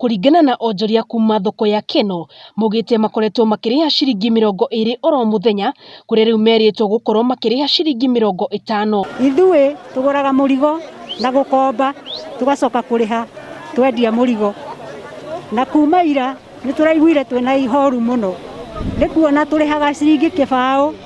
Kũringana na onjoria kuma thoko ya Keno, maugĩte makoretwo makĩrĩha ciringi mĩrongo ĩrĩ oro mũthenya, kũrĩa rĩu merĩtwo gũkorwo makĩrĩha ciringi mĩrongo ĩtano. Ithuĩ tũgũraga mũrigo na gũkomba tũgacoka kũrĩha twendia mũrigo, na kuma ira nĩtũraiguire twĩna ihoru mũno nĩkuona tũrĩhaga ciringi kĩbaũ.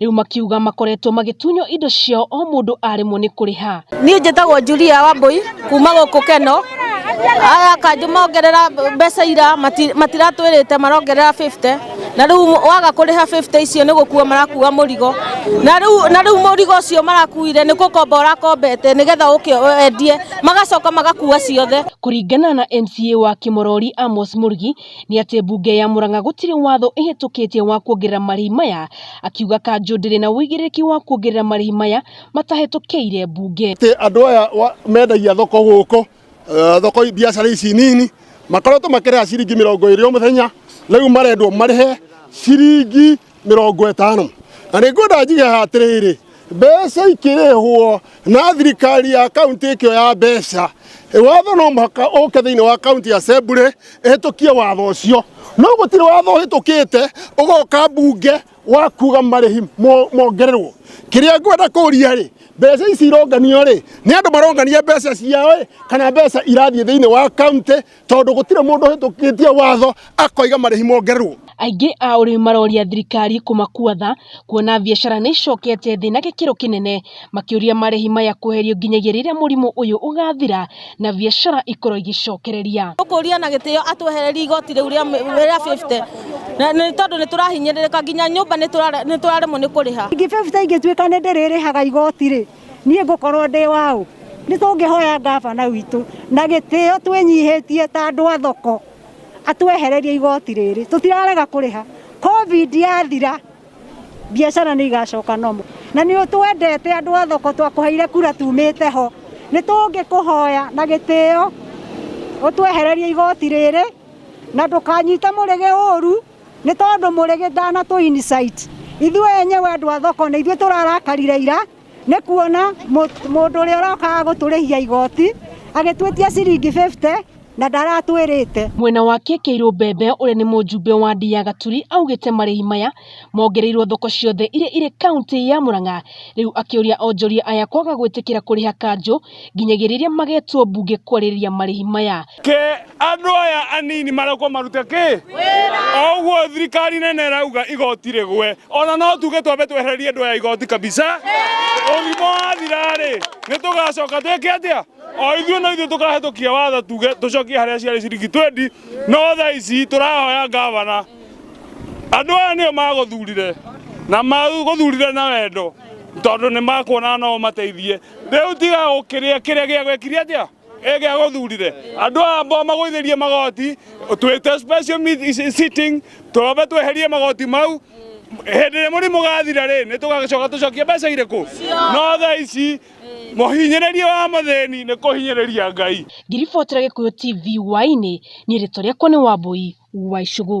rĩu makiuga makoretwo magĩtunywo indo ciao o mũndũ aremwo nĩ kũrĩha. Niĩ njĩtagwo Julia Wambũi kuma gũkũ Keno, aya kanjũ mongerera mbeca ira matiratwĩrĩte marongerera 50 na rĩu waga kũrĩha 50 icio nĩ gũkua marakua mũrigo, na rĩu mũrigo ũcio marakuire nĩ gũkomba ũrakombete nĩgetha ũke wendie magacoka magakua ciothe. Kũringana na MCA wa Kĩmorori Amos Mũrugi, nĩ atĩ mbunge ya Murang'a gũtirĩ watho ĩhĩtũkĩtie wa kuongerera marĩhi maya, akiuga kanjũ ndĩrĩ na ũigĩrĩrĩki wa kuongerera marĩhi maya matahĩtũkĩire mbunge. Atĩ andũ aya mendagia thoko gũkũ, eh, thoko biacara ici nini makoretwo makĩrĩha ciringi mĩrongo ĩrĩ o mũthenya, rĩu marendwo marĩhe ciringi mĩrongo ĩtano na nĩ ngwenda njige ha atĩrĩrĩ mbeca ikĩrĩhwo na thirikari ya kaunti ĩkĩo ya mbeca watho no mũhaka ũke thĩinĩ wa kaunti assembly ĩhĩtũkie watho ũcio no gũtirĩ watho ũhĩtũkĩte ũgoka mbunge wa kuga marĩhi mo- mongererwo kĩrĩa ngwenda kũria rĩ mbeca ici ironganio rĩ nĩ andũ marongania mbeca ciao ĩ kana mbeca irathiĩ thĩinĩ wa kaunti tondũ gũtirĩ mũndũ ũhĩtũkĩtie watho akoiga marĩhi mongerwo. Aingĩ a ũrĩmi maroria thirikari kũmakua tha kuona biacara nĩ icokete thĩ na gĩkĩro kĩnene makĩũria marĩhi maya kweherio nginyagia rĩrĩa mũrimũ ũyũ ũgathira na biacara ikorwo igĩcokereria. Tũkũria na gĩtĩo atwehererie igoti rĩu rĩa 50 nĩ tondũ nĩ tũrahinyĩrĩrĩka nginya nyũmba nĩ tũraremwo nĩ kũrĩha. Ningĩ 50 ingĩtuĩka nĩ ndĩrĩrĩhaga igoti-rĩ. niĩ ngũkorwo ndĩ waũ nĩ tũngĩhoya ngabana witũ na gĩtĩo twĩnyihĩtie ta andũ a thoko atwehererie igoti rĩrĩ tũtirarega kũrĩha covid yathira biacara nĩ igacoka nomo na nĩ ũtwendete andũ a thoko twakũheire kura tumĩte ho nĩ tũngĩkũhoya na gĩtĩo ũtwehererie igoti rĩrĩ na ndũkanyite mũrĩgĩ ũru nĩ tondũ mũrĩ gĩthana tũ insight ithuĩ enyewe andũ a thoko nĩ ithuĩ tũrarakarire ira nĩ kuona mũ- mũndũ ũrĩa ũrokaga gũtũrĩhia igoti agĩtwĩtia ciringi 50 na ndaratwĩrĩte Mwena wake Kĩirũ Mbembe ũrĩa nĩ mũjumbe wa Ndi ya Gaturi augĩte marĩhi maya mongereirwo thoko ciothe iria irĩ kauntĩ ya Murang'a rĩu akĩũria onjoria aya kwaga gwĩtĩkĩra kũrĩha kanjũ nginyagia rĩrĩa magetwo mbunge kwarĩrĩria marĩhi maya. Ke andũ aya anini marekwo marute kĩ? O ũguo thirikari nene ĩrauga igoti rĩgwe, ona no tuge twambe twehererie andũ aya igoti kabisa. Ũrimũ wathira-rĩ, nĩ tũgacoka twĩke atĩa? O ithuĩ no ithuĩ tũkahĩtũkia watho tuge tũcokie harĩa ciarĩ ciringi twendi, no thaa ici tũrahoya ngavana, andũ aya nĩo magũthurire na magũthurire na wendo tondũ nĩ makuona no ũmateithie. Rĩu tiga gũkĩrĩa kĩrĩa gĩa gwĩkirie atĩa ĩ gĩa gũthurire andũ aya ambao magũithĩrie magoti twĩte special meet- si- sitting twambe tweherie magoti mau hĩndĩ ĩrĩa mũrimũ gathira rĩ nĩ tũgagĩcoka tũcokie mbeca irĩkũ no thaa ici mũhinyĩrĩria wa mũthĩni nĩ kũhinyĩrĩria ngai Ngiriboti rĩa Gĩkũyũ TV Hwaĩ-inĩ, niĩ rĩtwa rĩakwa nĩ Wambũi wa Icũgũ.